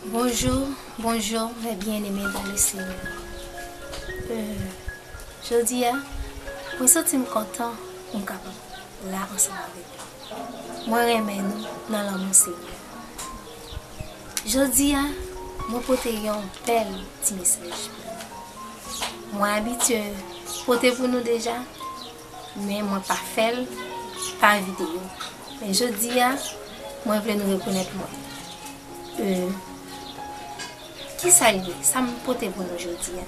Bonjou bonjou mè byen eme dan le senyè jodi a mwen santi m kontan pou m kapab la ansanm avèk nou mwen renmen nou nan lanmou senyè. Jodi a mwen pote yon bèl ti mesaj pou nou. Mwen abitye pote pou nou deja, men mwen pa fè l pa videyo. Men jodi a, mwen vle nou rekonèt mwen. E, kisa l ye? Sa m pote pou nou jodi a?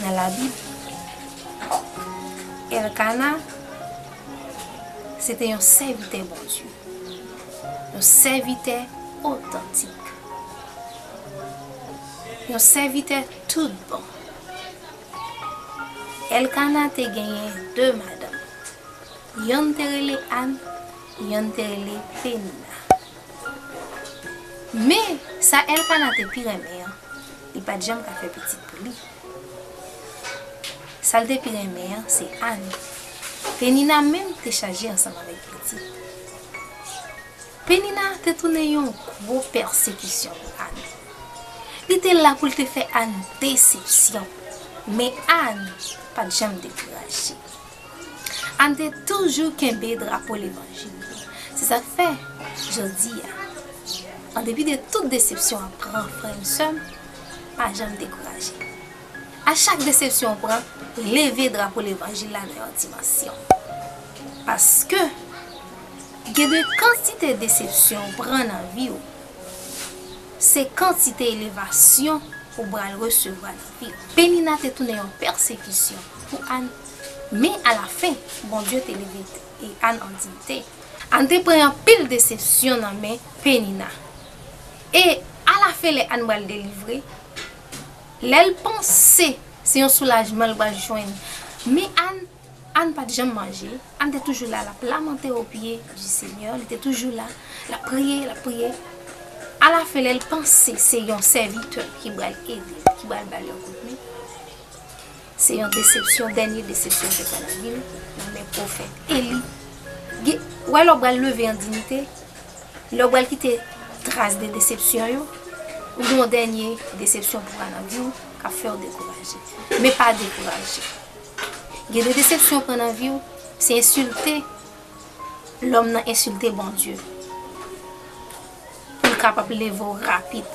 nan Labib, Èlkana se te yon sèvitè Bondye, yon sèvitè otantik, yon sèvitè toutbon. Èlkana te genyen de madanm, yonn te rele Ann, yonn te rele Penina. Men, sa Èlkana te pi renmen an, Li pat janm ka fè pitit pou li. Sa l te pi renmen an se Ann. Penina menm te chaje ansanm avèk pitit. Penina te tounen yon gwo pèsekisyon pou Ann. Li te la pou l te fè Ann desepsyon. Men Ann pat janm dekouraje. Ann te toujou kenbe drapo levanjil yo. Se sa k fè, jodi a, an depi de tout desepsyon w ap pran, frè m, sè m, pa janm dekouraje. A chak desepsyon w pran, leve drapo levanjil la nan yon dimansyon. Paske, gen de kantite desepsyon w pran nan vi w, se kantite elevasyon ou pral resevwa nan vi w. Penina te tounen yon pèsekisyon pou Ann. Men, alafen, Bondye te leve Ann an diyite. Ann te pran anpil desepsyon nan men Penina. E, alafen lè Ann pral delivre, lè l panse se yon soulajman l pral jwenn. Men Ann, Ann pa t janm manje, Ann te toujou la l ap lamante opye di Senyè, li te toujou la, l ap priye, l ap priye. Alafen lè l panse se yon sèvitè ki pral ede l, ki pral ba l yon kout men. Se yon desepsyon, dènye desepsyon ke fè lavi l nan men pwofèt Eli. Gen, ou wè lè w pral leve an dinite, lè w pral kite tras de desepsyon yo, ou gen yon dènye desepsyon pou pran nan vi w k ap fè w dekouraje. Men pa dekouraje. Gen de desepsyon w pran nan vi w, se ensilte. Lòm nan ensilte Bondye pou l kapab leve w rapid.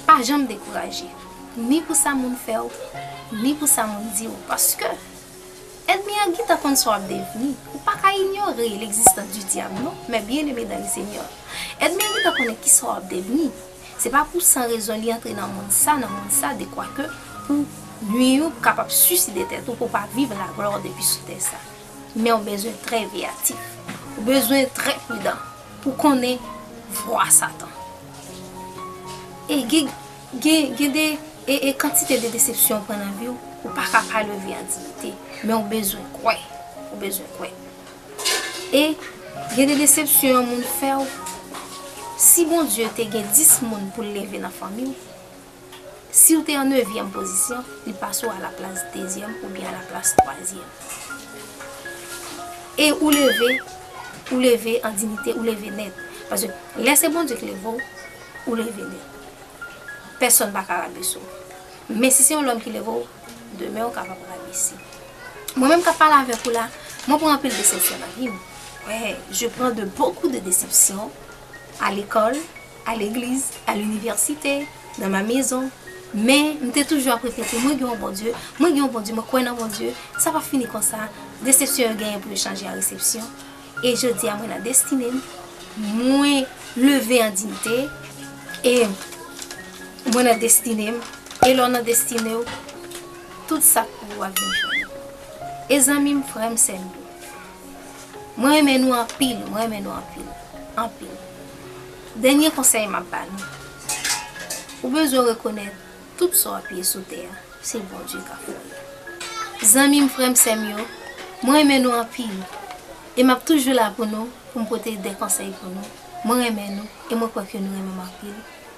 Pa janm dekouraje, ni pou sa moun fè w, ni pou sa moun di w, paske Ènmi an gentan konn sa w ap devni. Ou pa ka inyore legzistans di Dyab non, mè byeneme dan le Senyè, Ènmi an gentan konnen ki sa w ap devni. Se pa pou san rezon li antre nan monn sa, nan monn sa, dekwake pou nwi ou, pou kapab siside tèt ou, pou w pa viv laglwa w depi sou tè sa. men ou bezwen trè veyatif. Ou bezwen trè pridan pou w konnen vwa Satan. E gen de e kantite de desepsyon ou pran nan vi w, ou pa ka pa leve an diyite, men ou bezwen kwè, ou bezwen kwè. E gen de desepsyon yon moun fè w, si Bondye te gen 10 moun pou l leve nan fanmi w, Siw te an nevyèm pozisyon, li pase w a la plas dezyèm oubyen a la plas twazyèm. E ou leve, ou leve an dinite, ou leve nèt. Paske lè se Bondye k leve w, ou leve nèt. Pèsòn pa ka rabese w. Men si se yon lòm ki leve w, demen ou kapab rabese. Mwen menm k ap pale avèk ou la, mwen pran anpil desepsyon nan vi m. Wè, je pran de bokou de desepsyon a lekòl. a legliz, a linivèsite, nan ma mezon, men m te toujou ap repete mwen gen yon Bondye, mwen gen yon Bondye, mwen kwè nan Bondye, sa pa fini konsa, desepsyon yo genyen pou yo chanje an resepsyon, e jodi a mwen nan destine m, mwen leve an diyite, e mwen nan destine m, e lè w nan destine w, tout sa k pou ou a vin jwenn ou. E zanmi m, frè m, sè m yo. Mwen renmen nou anpil mwen renmen nou anpil anpil dènye konsèy map ba nou ou bezwen rekonèt tout sa wap ye sou tè a se Bondye kap fè yo zanmim frèm sèm yo mwen renmen nou anpil e map toujou la pou nou poum pote de konsèy pou nou mwen renmen nou e mwen kwè ke nou renmenm anpil.